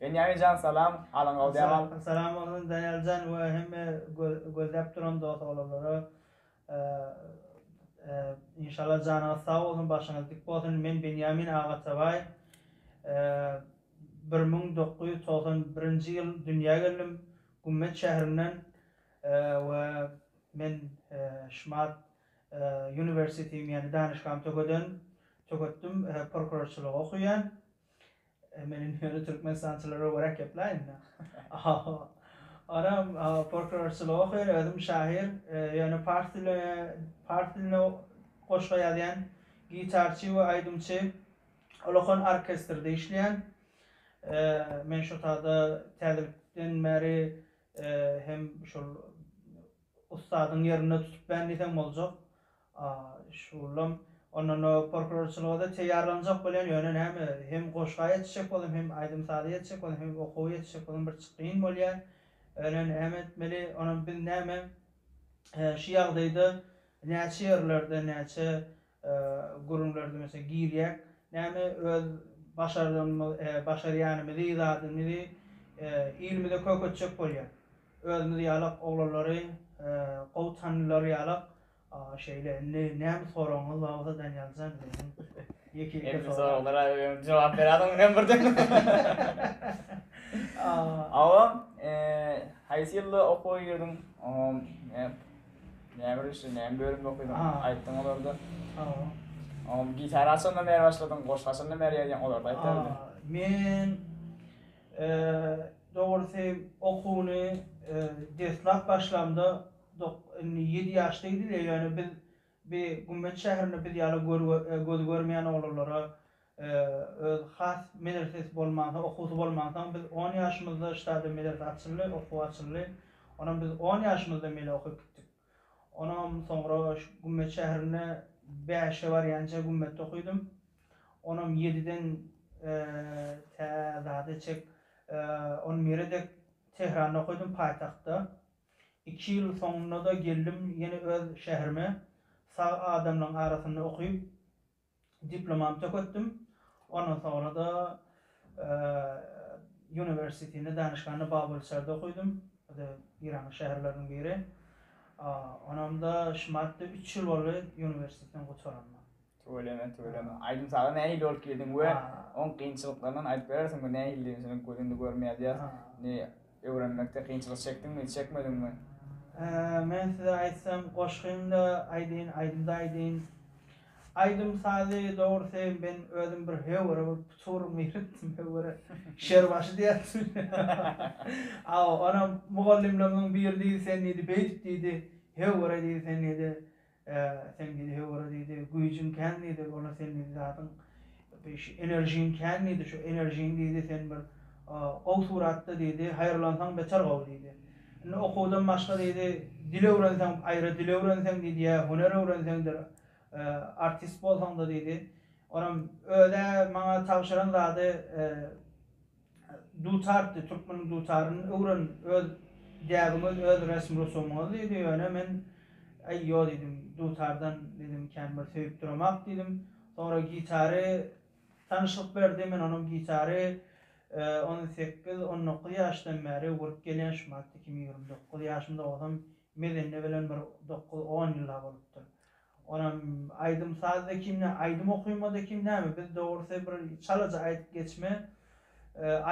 Benýamin jan salam, alyň galdýap al. Salam bolsun Daýaljan we hemme gözläp duran dos oglaglara. Inşallah janyňyz sag bolsun başyňyz dik bolsun men Benýamin Agatabaýew bir müň dokuz ýüz togsan birinji ýyl dünýä geldim Gummet şäherinden we men Şmaat University ýagny danyşgamy tökeden töketdim prokurorçylygy okaýan Men indi ýöne türkmenistançylara göräk gepläýin. Ahaha. Onam porkurorçylygy okaýan, özüm şahyr, ýöne pars dili pars dilinde goşga ýazýan, gitarçy we aýdymçy, Ulukhan orkestrde işleýän. Men şotada täzelikden bäri hem şol Ussadyň ýerinde tutup bän diýseň boljak. Şuwwullam ondan folklorçylyga-da teýýarlanjak bolýan, ýöne näme, hem goşga ýetişjek boldum, hem aýdym-saza ýetişjek boldum, hem okuwa ýetişjek boldum, bir çyk kyn bolýar. Ýöne näme etmeli, onam biz näme, şu ýagdaýda näçe ýerlerde, näçe gürümler diýmesek girýäk näme öz başardygymyz başarýanymyzy zadymyzy ilimize köketjek bolýan özümiz ýalak oglanlary gowy tanylary ýalak şeýle indi näme soragyňyz bar bolsa Daniýaljan meniň ýeke ýeke soragyma soragylara jogap beräýdim muny hem birden awa haýsy ýylda okuwa girdiň Näme birinji näme bölümde okaýdyň? Aýtdyň olarda. Oňa gitara haçandan bäri başladyň? Goşgy haçandan bäri ýazýaň? Olary-da aýt däl-de. Men dogrusy okuwyny deslap başlamda indi ýedi ýaşda gidilýär, ýöne biz bi gümmeç şäherinde biz ýaly gözi görmeýän oglanlara Öz has medresesi bolmansoň, okuwsy bolmansoň, biz on ýaşymyzda ştada medrese açyldy, okuw açyldy. Onam biz on ýaşymyzda mele okyp gitdik. Onam soňra şu Gümmet şäherinde bäşe barýança Gümmetde okydym. Onam ýediden tä zada çek on bire dek Tehranda okydym, paýtagtda. Iki ýyl soňunda-da geldim ýene öz şäherime. Sag adamlaryň arasynda okyp, Diplomam töketdim. Ondan soňra-da uniwersitini, danyşgany Babylçerde okydym. Bu-da Eýranyň şäherleriniň biri. Onam-da şu martda üç ýyl boldy uniwersiteden gutaranyma. Tüweleme, tüweleme. Aýdym-saza nähili bolup girdiň we oň kynçylyklaryndan aýdyp berersiňmi? Nähilidigini şonuň gözünde görüp ýazýas. Indi Öwrenmekde kynçylyk çekdiňmi, çekmediňmi? Men size aýtsam, goşgyny-da aýdyn, aýdymy-da aýdyn. Aýdym-sazy, dogrusy, men özüm bir höwere bolup, tuturygymy ýöretdim, höwere. Şer başy diýerdim. Hawa, onam mugallymlarymyzyň biri diýdi, sen diýdi, beýdip diýdi, höwere diýdi, sen diýdi, Ä, sen diýdi, höwürä diýdi, güýjüň kän diýdi, ony sen diýdi zadyň bi şu enerjiň kän diýdi, şu enerjiň diýdi sen bir gowy suratda diýdi, haýyrlansaň beter gowy diýdi. Indi okuwdan başga diýdi, dil öwrenseň, aýra dil öwrenseň diýdi, ýa hüner öwrenseňdir, artist bolsaňda diýdi, onam öz-ä maňa tabşyran zady, Dutar diý, türkmeniň dutaryny öwren, öz däbiňiz, öz resm-rusumyňyz diýdi. Ýöne men, Äý, ýo diýdim, dutardan, diýdim, kän bir söýüp duramok diýdim. Soňra gitary tanyşlyk berdi. Men onam gitary on sekiz, on dokuz ýaşdan bäri urup gelýän, şu madda kim ýigrimi dokuz ýaşym dogzam, mezende bilen bir dokuz, on ýyllap bolupdyr. Onam aýdym saz ekim nä aýdym okymada ekim näme biz dogrusy bir çalaja aýdyp geçme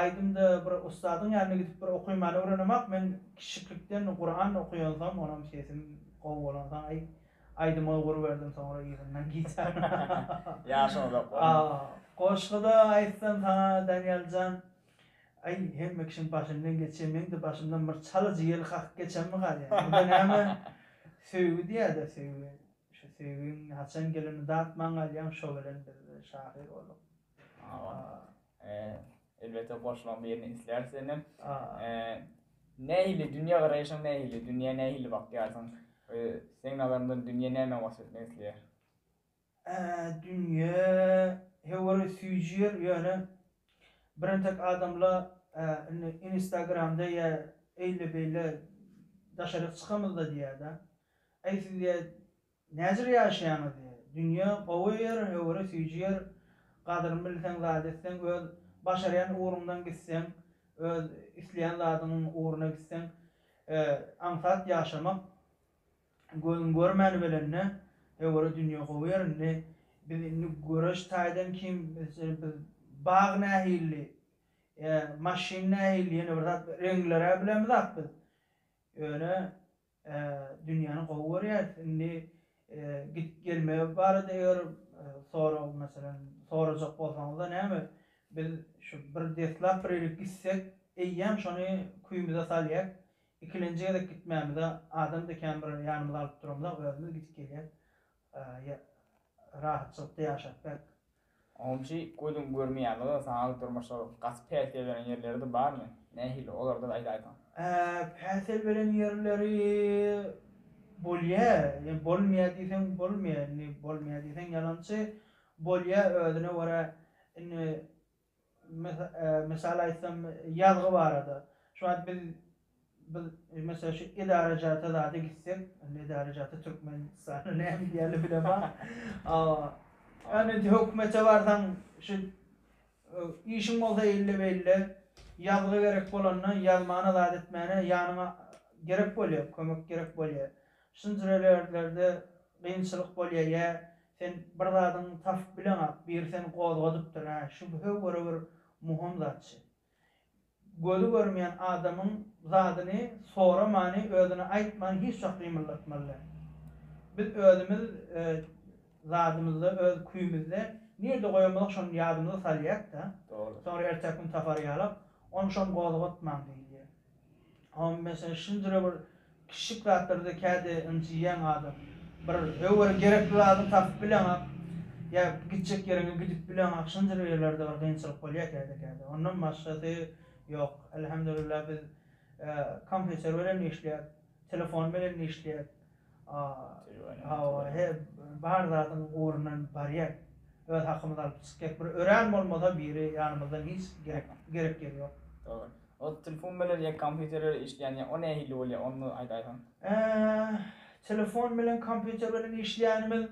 aýdymda bir ussadyň ýanyna gidip bir okymany öwrenemak men kişiklikden Kuran okuýansom onam sesim gowy bolansoň aý aýdyma ugur berdim soňra yzyndan gitar Ýaşyň uzak bolsun. Goşgyda aýtsam saňa Daniýaljan Aý, hemme kişiň başyndan geçýär, meň-de başymdan bir çalajy ýel kakyp geçemmi galýar? Muňa näme söýgi diýýär-dä, söýgi. Şu söýgiň haçan gelenini datman galýaň, şo bilen biz-de şahyr bolduk. Elbetde, goşlaň birini isleýäris senden. Nähili dünýägaraýşyň nähili? Dünýä nähili bakýarsyň? Seň nazaryňdan dünýä nämä waspetmek isleýär? Dünýe höwere süýji ýer ýöne bir entek adamla indi inistagramda ýa eýle beýle daşaryk çykamyzda diýäda äý siz diýä näjr ýaşaýaňyz diýä dünýe gowy ýer höwere süýji ýer gadyryn bilseň zat etseň öz başarýan ugruňdan gitseň öz isleýän zadyň ugruna gitseň aňsat ýaşamak Gözüň görmäni belende, höwere dünýe gowy ýer indi. Biz indi göreş taýdan kim, meselen, biz bag nähilli, ýa maşyn nähilli, ýene bir zat, reňleri-ä bilemizok biz. Ýöne, dünýäni gowy görýäris. Indi gidip gelme barada eger sorag, meselen, sorajak bolsaňyzda näme, biz şu bir deslap bir ýere gitsek, eýýäm şony küýümize salýak, Ikilenji gezek gitmämize adamdy kän bir ýanymyza alyp duramyzok özümiz gidip gelýäs ýa rahatçylykda ýaşap bek. Onçy gözüň görmeýämizok saňa durmuş şol gaty päsgel beren ýerleridi barmy nähili olarda aýdaýsaň. Päsgel beren ýerleri bolýa ýa bolmaýa diýseň bolmaýa indi bolmaýa diýseň ýalançy bolýa özüne görä indi Mysal aýtsam, ýazgy barada. Şu wagt biz, biz, meselem, şu edarajata zada gitsek, indi edarajata Türkmenistanda näme diýerler bilemok. Ýöne indi hökümete barsaň, şu işiň bolsa eýle-beýle, ýazgy gerek bolanda, ýazmana zat etmäne ýanyňa gerek bolýar, kömek gerek bolýar. Şunjur ýerlerde kynçylyk bolýar, ýa Sen bir zadyň tapyp bileňak, biri seni gozgadypdyr-ä, şübhe göre bir muhym zatçy. Gözi görmeýän adamyň zadyny soramany, özüne aýtmany hiç wagt gymyldatmaly däl. Biz özümiz zadymyzda, öz küýümizde nirde goýanymyzy şony ýadymyza salýak-da, soňra ertäk gün tapar ýalak, ony-şony gozgatmaň diýilýär. Meselen, şundyra bir kiçijik zatlarda käte ynjyýaň adam. Bir höwere gerekli zadyňy tapyp bileňok, ýa gitjek ýeriňe gidip bileňok, şundyr ýerlerde bir kynçylyk bolýar käte-käte. Ondan başgasy ýok. Elhamdülillah biz kompýuter bilen işleýäs. Telefon bilen işleýär. Hawa, he, bar zadyň ugrundan barýar. Öz hakymyzy alyp çykýar. Bir örän bolmasa biri ýanymyzdan hiç gerek, gerek ýeri ýok. Dogry. Ol telefon bilen ýa kompýuter bilen işleýän ýa o nähili bolýar, ony bir aýdaýsaň? Telefon bilen kompýuter bilen işleýänimiz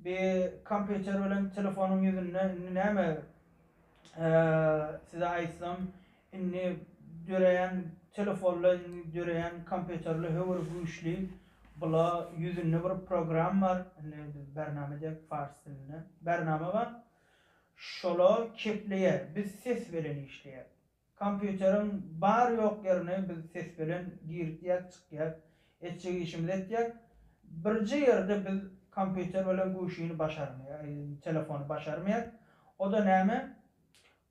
bi kompýuter bilen telefonyň ýüzünde indi näme size aýtsam, Indi döreýän telefonly, indi döreýän kompýuterli höwür güýçli. Bula ýüzünde bir program bar. Indi biz bernama diýýäk fars dilinde. Bernama bar. Şola kepleýär. Biz ses belen işleýäk. Kompýuteriň bar-ýok ýerine biz ses belen girdýäk, çykýak. Etjek işimizi etýäk. Birje ýerde biz kompýuter belen güwşini başarmaýak, telefony başarmaýak. O-da näme?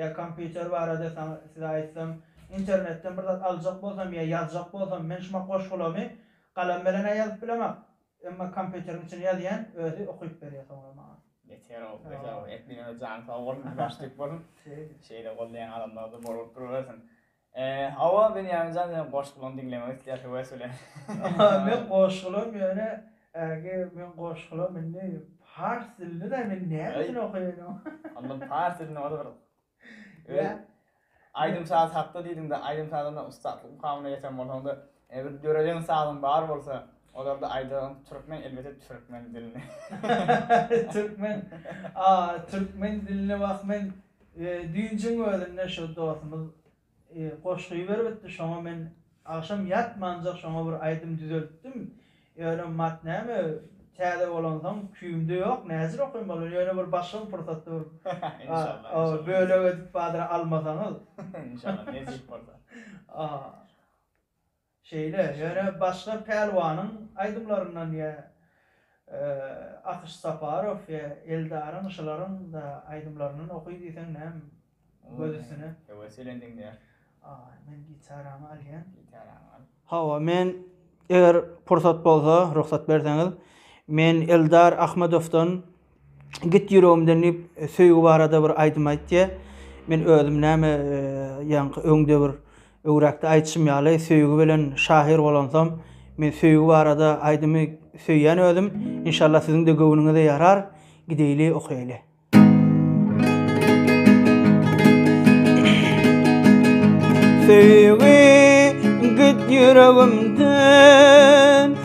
Ýa kompýuter barada saňa size aýtsam, internetden bir zat aljak bolsam ýa ýazjak bolsam, men şumak goşgulamy galam bilen-ä ýazyp bilemak. Emma kompýuteriň içine ýazýan, özi okyp berýä soňra maňa. Beter-ow, beter-ow. Etdigiňize janyň sag bolsun, başda ýük bolsun. Şeýle goldaýan adamlar-da bolup durubersin. Hawa Benýaminjan seniň goşgulaň diňlemek isleýär höwes bilen. Men goşgulam ýöne ägi men goşgulam indi pars dilini de men nämüçin okaýanym. Onda pars dilini oda bir öz aýdym saz hakda diýdiňde aýdym sazynda ussatlyk mukamyna ýeten bolsaňda bir döreden sazyň bar bolsa olarda aýdagyň türkmen elbete türkmen dilini. Türkmen a türkmen dilini wah men Dünjiň özünde şo dostumyz goşgy beribitdi şoňa men agşam ýatmanjak şoňa bir aýdym düzeltdim ýöne mat näme täze bolansoň küýümde ýok näjir okaýyn bolany ýöne bir başga bir pursatda bir Inşallah bölek edip badyr almasaňyz Inşallah nesip bolsa. Şeýle, ýöne başga pälwanyň aýdymlaryndan ýa Akyş Saparow ýa Eldaryň şylaryň-da aýdymlaryndan oky diýseň näm göz üstüne. Höwes bilen diňleýär. Aý, men gitaramy alýan. Gitaraňy al. Hawa, men eger pursat bolsa, rugsat berseňiz, men Eldar Ahmedowdan Git ýüregimden diýip, söýgi barada bir aýdym aýt diýýär. Men özüm näme, ýaňky öňde bir öwräkde aýtşym ýaly, söýgi bilen şahyr bolansam, men söýgi barada aýdymy söýýän özüm. Inşallah siziň-de göwnüňize ýarar. Gideýli, okaýly. Söýgi git ýüregimden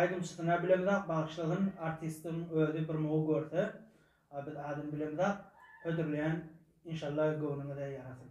Aýdymçysyna bilemizok bagyşlasyn artistiň özi bir mugu görse biz adyny bilemizok hödürleýän inşalla göwnüňize ýarasyn.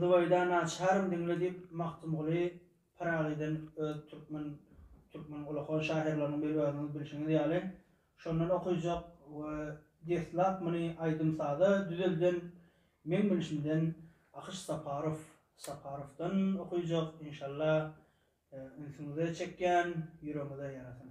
Zübeýda naçarym diňle diýip Magtymguly Pyragydan öz türkmen türkmen ullakan şahyrlarynyň biri özüňiz bilşiňiz ýaly şondan okyjak we deslap muny aýdym-saza düzelden meň bilşimden Akyş Saparow Saparowdan okyjak inşallah ünsüňize çekýän ýüregiňize ýarasyn.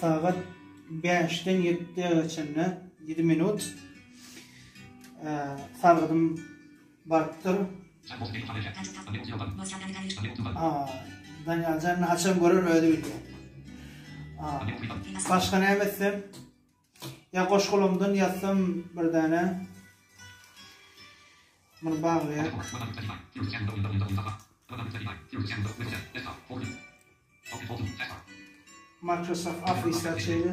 Sagat bäşden ýetdä çenli ýedi minut. Sargydym barypdyr. Daniýaljan haçan görer özi bilýär. Başga näme etsem? Ýa goşgulamdan ýazsam bir däne. Muny baglaýar. Microsoft Office-da şeýle.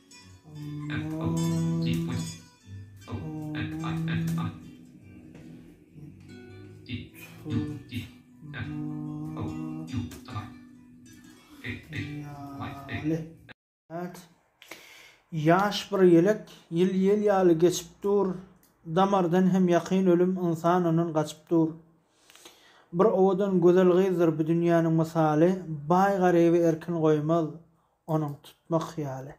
Ýaş bir ýelek, ýyl ýel ýaly geçip dur, Damardan hem ýakyn ölüm, ynsan ondan gaçyp dur. Bir owadan gözel gyzdyr bu dünýäniň mysaly, Baý-garyby erkin goýmaz, onuň tutmak hyýaly.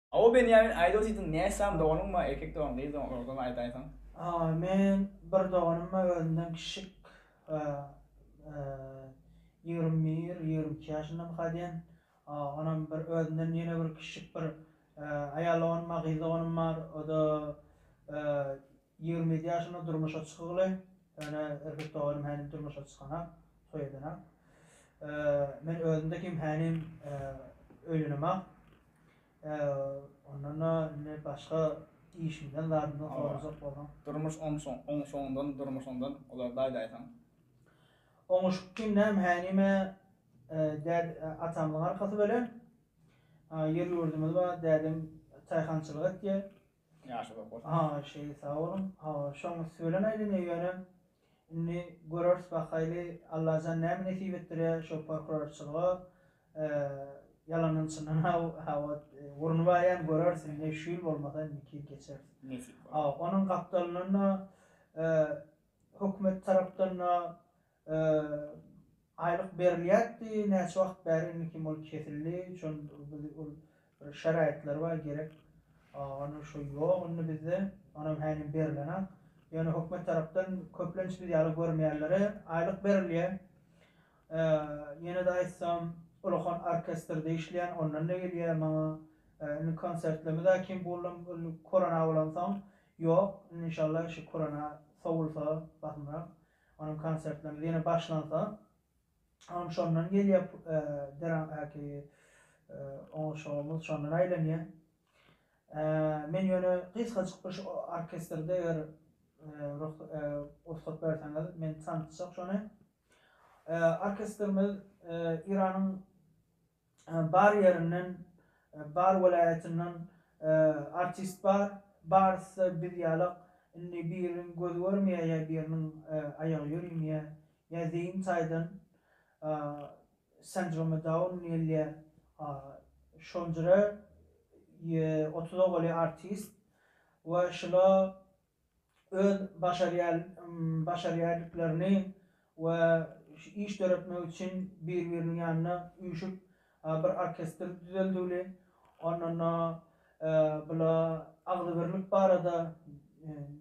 Aw Benýamin aýda diýdiň näsam doganyňmy erkek dogan gyz dogan ozgam aýdaýsaň. Aw men bir doganymmy özümden kiçik ýigrimi bir ýigrimi iki ýaşyndamy ka diýen aw onam bir özümden ýene bir kiçik bir aýal doganym bar gyz doganym bar oda Ýigrimi ýedi ýaşymda durmuşa çykygly, ýöne erkek doganym hälim durmuşa çykanok, toý edenok. Men özümde kim hälim öýlenemok. Ondan-da indi başga işimden, zadymdan sorajak bolsaň. Durmuş oňşuňdan, durmuşyňdan olarda aýdaýsaň. Oňuşyk kim näm hälime däd atamyň arkasy bölem. Ýer-ýurdumyz bar, dädem çaýhançylyk etýär. Ýaşy bor bolsun. Ha şeýle sag boluň. Ha şoň üsti bilen aýdanyň ýöne indi göreris bakaýly Allajan näme nesip etdirýä şo porkurorçylyga ýalandan çyndan hawa urny barýan göreris indi şu ýyl bolmasa indiki ýyl geçeris. Nesip bolsa. Onuň gapdalyndan da hökümet tarapdan da Aýlyk berilýärdi, näçe wagt bäri indi kim ol kesildi, şol biz ol bir şeraýatlary bar gerek, ony şo ýok indi bizde, onam hänem berilenak. Ýöne hökümet tarapdan köplenç biz ýaly görmeýänlere aýlyk berilýär. Ýene-de aýtsam, Ulakan orkestrde işleýän, ondan-da gelýär maňa. Indi konsertlerimi da kim buldum, indi korona bolansoň, ýok. Indi inşallah şu korona sowulsa basymrak. Onuň konsertlerine ýene başlansa, onuň şondan gelýär deramhäki oňuşygymyz şondan aýlanýar. Men ýöne gysgajyk bir şu orkestrde eger rugsat berseňiz, men tanysjak şony. Orkestrimiz Iranyň Bar ýerinden bar welaýatyndan artist bar barysda biz ýalak indi biriň gözi görmeýä ýa biriniň aýagy ýörimeýä ýa zeýin taýdan sendromy daun diýilýä şonjra otuz owaly artist we şula öz başarýaýdyklarny we iş döretmek üçin bir-biriniň ýanyna üýşüp bir orkestr düzeldiwli, ondan-da bula agzybirlik barada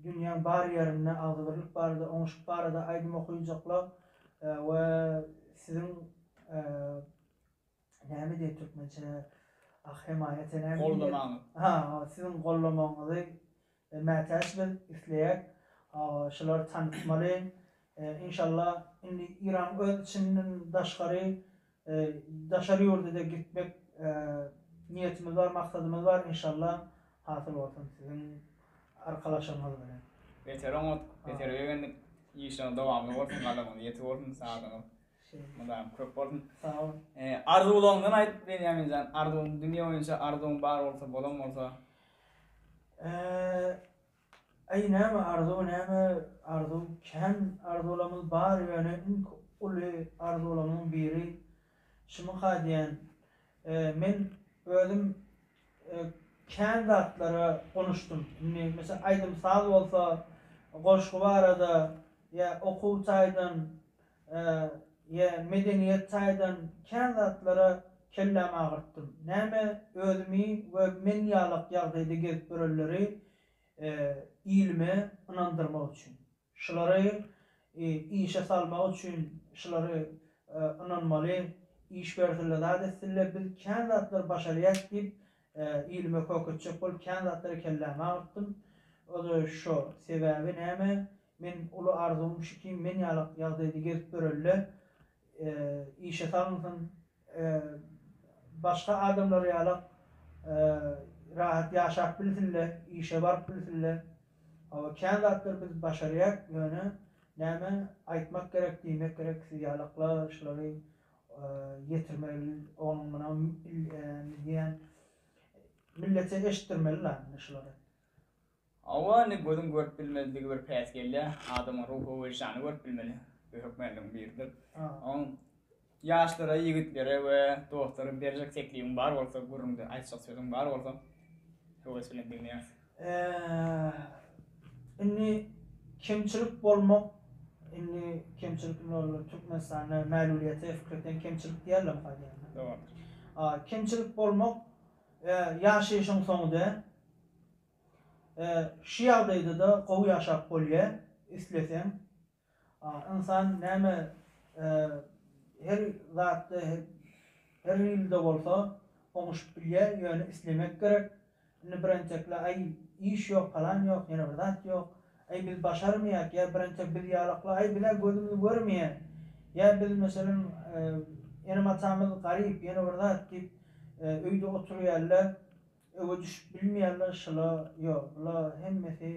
dünýäň bar ýerinde agzybirlik barada oňuşyk barada aýdym okyjaklar we siziň Näme diýer türkmençe ah hemaýa senäm diýer. Goldamaň. Ha siziň goldamagyňyzy mätäç biz isleýäs. Şulary tanytmaly. Inşallah indi Iran öz içinden daşgary daşary ýurda-da gitmek niýetimiz bar maksadymyz bar inşallah hasyl bolsun siziň arkalaşygyňyz bilen. Beter oňat, beter begendik. Işiňiz dowamly bolsun, gazanyňyz ýetik bolsun, sazyňyz Mydam köp bolsun. Sag bol. Arzuwlaryňdan aýt Benýamin jan, arzuwyň dünýe boýunça arzuwyň bar bolsa, bolan bolsa. Aý näme arzuw näme arzuw kän arzuwlarymyz bar ýöne iň uly arzuwlarymyň biri şumyka diýen men özüm kän zatlara gonuşdym indi meselem aýdym saz bolsa goşgy barada ýa okuw taýdan Ýe, medeniýet taýdan kän zatlara kellämi agyrtdym. Näme özümi we men ýalak ýagdaýda gezip ýörenleri ilime ynandyrmak üçin. Şulary işe salmak üçin şulary ynanmaly, iş bersille, zat etsille biz kän zatlar başarýas diýip Ilime köketjek bolup kän zatlary kelläme agyrtdym. O-da şo. Sebäbi näme? Men uly arzuwym şu kim men ýaly ýagdaýda gezip ýöreli-le, işe salynsyn, başga adamlar ýala rahat ýaşap bilsin-le, işe baryp bilsin-le. Hawa, kän zatlary biz başarýak, ýöne näme, aýtmak gerek, diýmek gerek, siz ýalaklar şulary ýetirmeli onuň muny diýen millete eşitdirmeli la indi şulary. Hawa indi gözüň görüp bilmezligi bir päsgelýä adamyň ruhy weždany görüp bilmeli bu hökmänligiň biridir. Oň ýaşlara ýigitlere we dostlara berjek teklibiň bar bolsa gürrüňde aýtjak sözüň bar bolsa höwes bilen diňleýäris. Indi kemçilik bolmak indi kemçilik indi ol Türkmenistanda mäluliýete fikirten kemçilik diýerler muha diýende. Dogry. Kemçilik bolmak ýaşaýşyň soňy däl. Şu ýagdaýda-da gowy ýaşap bolýar, isleseň. Ynsan näme her zatda her hilde bolsa oňuşyp bilýä ýöne islemek gerek. Indi bir entekle aý iş ýok palan ýok ýene bir zat ýok aý biz başarmaýak ýa bir entek biz ýalakly aý bizä gözümiz görmeýä ýa biz meselem enem atamyz garyp ýene bir zat diýip öýde oturýaly Öwe düşüp bilmeýänler şula ýok bula hemmesi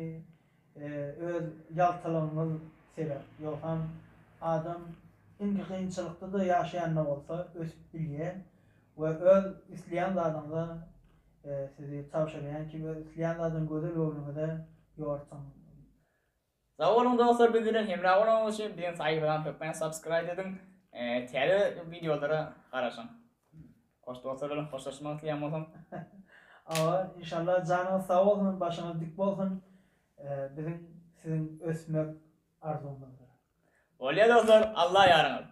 öz ýaltalygyňyz sebäp ýogsam adam indiki kynçylykda-da ýaşaýanda bolsa ösüp bilýä we öz isleýän zadyňyza sizi tabşyrýan kim öz isleýän zadyň gözel göwnüňize ýortuň. Sag boluň dostlar biz bilen hemra bolanyňyz üçin biziň saýtymyzdan hökman subscribe ediň täze wideolara garaşyň hoş dostlar bilen hoşlaşmak isleýän bolsaň Awa inşallah janyňyz sag bolsun başyňyz dik bolsun biziň siziň ösmek arzuwymyzdyr. Bolýar dostlar Allah ýaryňyz.